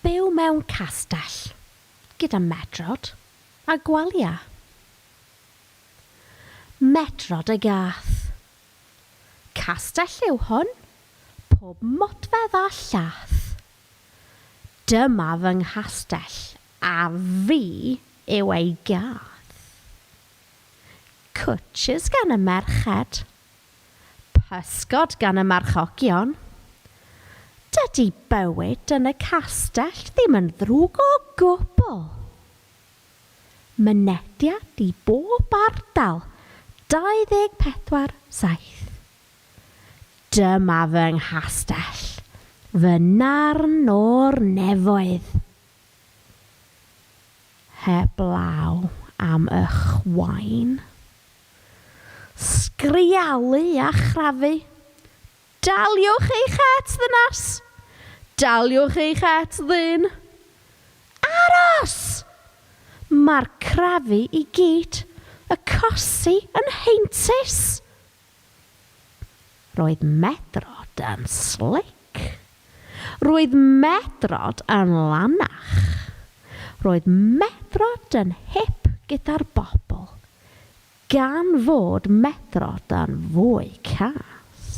Byw mewn castell, gyda medrod a gwalia. Medrod a gath. Castell yw hwn, pob modfedd a llath. Dyma fy nghastell a fi yw ei gath. Cwtsh gan y merched Pysgod gan y marchogion. Dydy bywyd yn y castell ddim yn ddrwg o gwbl. Mynediad i bob ardal 24 7. Dyma fy nghastell, fy narn o'r nefoedd. Heblaw am y chwain. Sgrialu a chrafu. Daliwch eich het, ddynes! Daliwch eich het, ddyn! Aros! Mae'r crafu i gyd, y cosi yn heintus! Roedd Medrod yn slic. Roedd Medrod yn lanach. Roedd Medrod yn hip gyda'r bobl, gan fod Medrod yn fwy cas.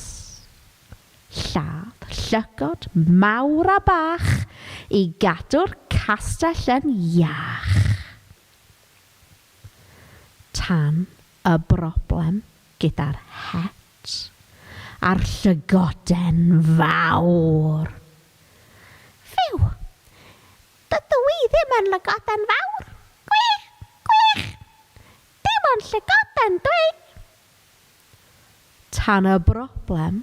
Lladd llygod mawr a bach i gadw'r castell yn iach. Tan Y broblem gyda'r het a'r llygoden fawr. Fyw! Dydw i ddim yn lygoden fawr! Gwych! Gwych! Dim ond llygoden dw i! Tan y broblem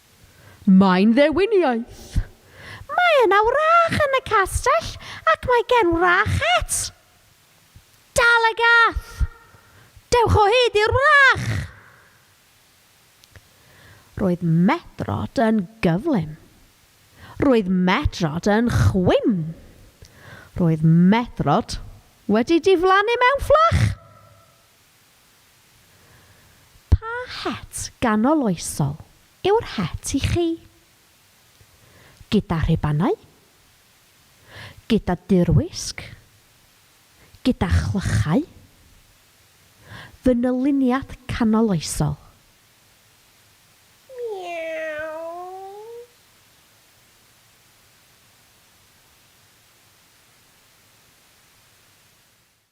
Mae'n ddewin iaith. Mae yna wrach yn y castell ac mae gen wrach het. Dal y gath! Dewch o hyd i'r wrach! Roedd Medrod yn gyflym. Roedd Medrod yn chwim. Roedd Medrod wedi diflannu mewn fflach. Pa het ganoloesol yw'r het i chi? Gyda rhubanau? Gyda dirwysg? Gyda chlychau? Fy nyluniad canoloesol.